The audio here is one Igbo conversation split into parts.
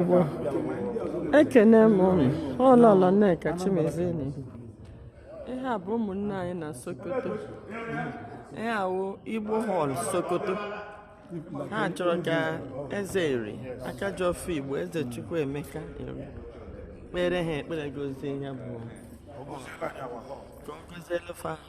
Igbo ekene m ụnụ ọ lọlọ nneka chimezie ihe a bụ ụmụnne anyị na sokoto ihe a wụ igbo hall sokoto ha chọrọ ka eze eri aka ji ọfọ igbo eze chukwuemeka eri kpeere ha ekpere gọzie ya bụ ka ọ gọzielu fa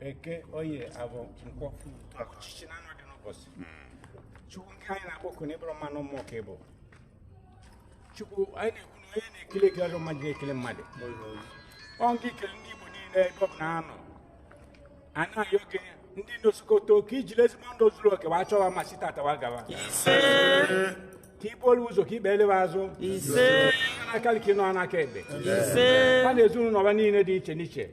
eke oye afọ nkwọ ọchịchị na anọ dị n'ụbọchị chukwu nke anyị na-akpọku na ị bụrọ mmadụ mmụọ ka ị bụ chukwu anyị na-ekwu na onye na-ekele ekele ọzọ mmadụ na-ekele mmadụ ọ ngị kele ndị igbo niile ebe ọ bụla ha nọ a na-ayọ gị ndị nọ sokoto ka i jiri ezigbo ndụ zuru oke wa chọọ wa mma site tata wa gawa ka i buolu ụzọ ka i kpeelu wa azụ n'aka ka ị nọ n'aka ekpe ha na ezinụlọ ha niile dị iche n'iche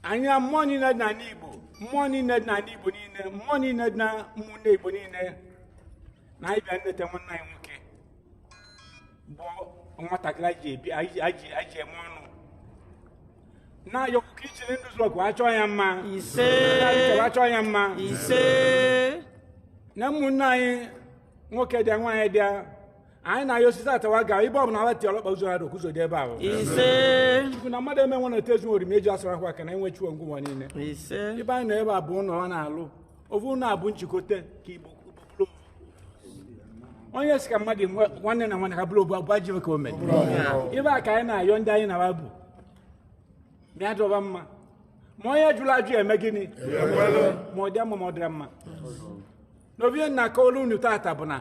anyị na mmụọ niile dị n'ala igbo mmụọ niile dị n'ala igbo niile mmụọ niile dị na ụmụnne igbo niile na anyị bịa nleta nwanne anyị nwoke bụ nwatakịrị anyị ji ebi anyị ji- anyị ji anyị ji eme ọnụ na-ayọkwu ka i jiri ndụ zuru oke wa chọọ ya mma ise chọọ ya mma ise na ụmụnne anyị nwoke dị nwaanyị dị anyị na-ayọ ọ site tata wa ga ibe ọbụla ala tiolu ọkpa ụzọ na-adọ ka ụzọ dị ebe ahụ ise chukwu na mmadụ eme nwe na etezu oriri ma eji asara akwa aka na enwe chiwo ngwụwa niile ise ibe anyị nọ ebe a bụ ụlọ ọ na-alụ ofu ụlọ a bụ njikọta ka igbo bụrụ onye si ka mmadụ nwe- nwanne na nwanne ka bụrụ ofu abụọ jiwe ka o mere ibe a ka anyị na-ayọ ndị anyị na bụ mịa dọba mma ma onye jụrụ ajụ ya eme gịnị ma ọ dị mma ma ọ dịrọ mma n'obi na-akọwara unu tata bụ na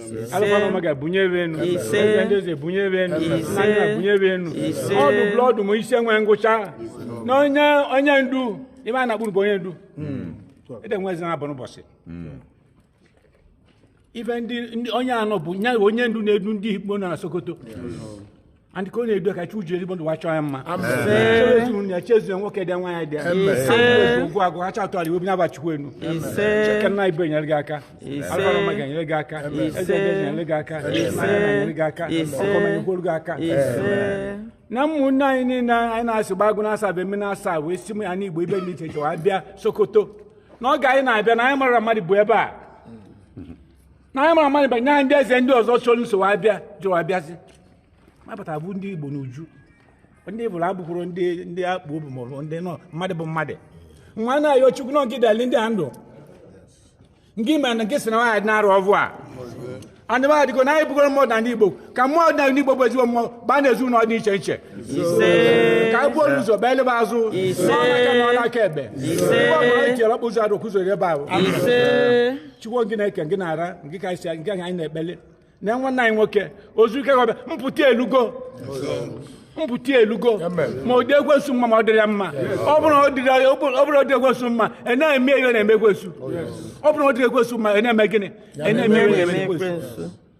alụkwana ọma ga-ebunye ebe enu Ise. Eze ndị eze ebunye ebe enu Ise. nna nna ebunye ebe enu Ise. ọdụ blọdụ ma isi enwe ngwụcha na onye onye ndu ime a na-akpụrụ bụ onye ndu ede nwe eze na-abụ n'ụbọsị ife ndị ndị- onye anọ bụ nya bụ onye ndu na-edu ndị igbo nọ na sokoto na ndị ka ọ na-edu ka chukwu ji ezigbo ndụ wa chọọ ya mma ezinụlọ ya chezie nwoke dị nwaanyị dị ya ugwu agụ ha chatụ ala iwe bụ nyaba chukwu enu cheke nna igbo enyere gị aka alụbara mma ga-enyere gị aka eze ga-enyere gị aka ga-enyere gị aka ọkọmenyegworo gị aka na ụmụnne anyị niile anyị na-asị gbagụ na-asa bụ eme na-asa wee si m ya n'igbo ibe ndị iche iche wa bịa sokoto n'oge anyị na-abịa na anyị mara mmadụ bụ ebe a na anyị mara amanyị banyere ndị eze ndị ọzọ chọrọ nso abịa jụrụ abịazi mapụta bụ ndị igbo n'uju ndị bụrụ abụkwuru ndị ndị akpụ obi maọbụ ndị nọ mmadụ bụ mmadụ nwa na-ayọ chukwu nọ nke dali ndị a ndụ nke ime na nke si na nwaanyị na-arụ ọvụ a na ndị nwaanyị dịgo na anyị bụgoro mmụọ na ndị igbo ka mmụọ ọdịnala ndị igbo bụ ezigbo mmụọ baa na ezinụlọ dị iche iche ka anyị buo ụzọ baa elebe azụ nọ n'aka nọ n'aka ekpe ebe ọ bụla anyị tiere ọkpa ụzọ adụ ka ụzọ dị ebe ahụ chukwu gị na-eke gị na-ara gị ka isi gị anyị na-ekpele na nwanne anyị nwoke ozu ike gọbịa mpụta elugo mpụta elugo ma ọ dị ekwensu mma ma ọ dịrị ya mma ọ bụrụ ọ dịrị ya- ọ bụrụ ọ bụrụ ọ dị ekwensu mma a na-eme ihe ọ na-eme ekwensu ọ bụrụ ọ dị ekwensu mma a na-eme gịnị a na-eme ihe ọ na-eme ekwensu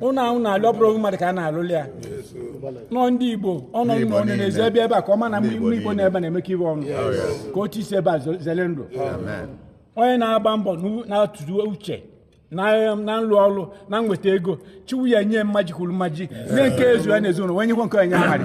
ụlọ ahụ na-alụ ọ bụrụ mmadụ ka a na-alụli ya nọ ndị igbo ọnọ nna ọnụ na-ezi ebe ebe a ka ọ ma na mgbe igbo igbo na-ebe na-emekọ ibe ọnụ ka otu isi ebe a zo- zere ndụ onye na-agba mbọ n'u- na-atụrụ uche na na nlụ ọlụ na nweta ego chiwu ya nye mmaji kwuru mmaji nye nke ezu ya na ezinụlọ wee nyekwa nke onye amadị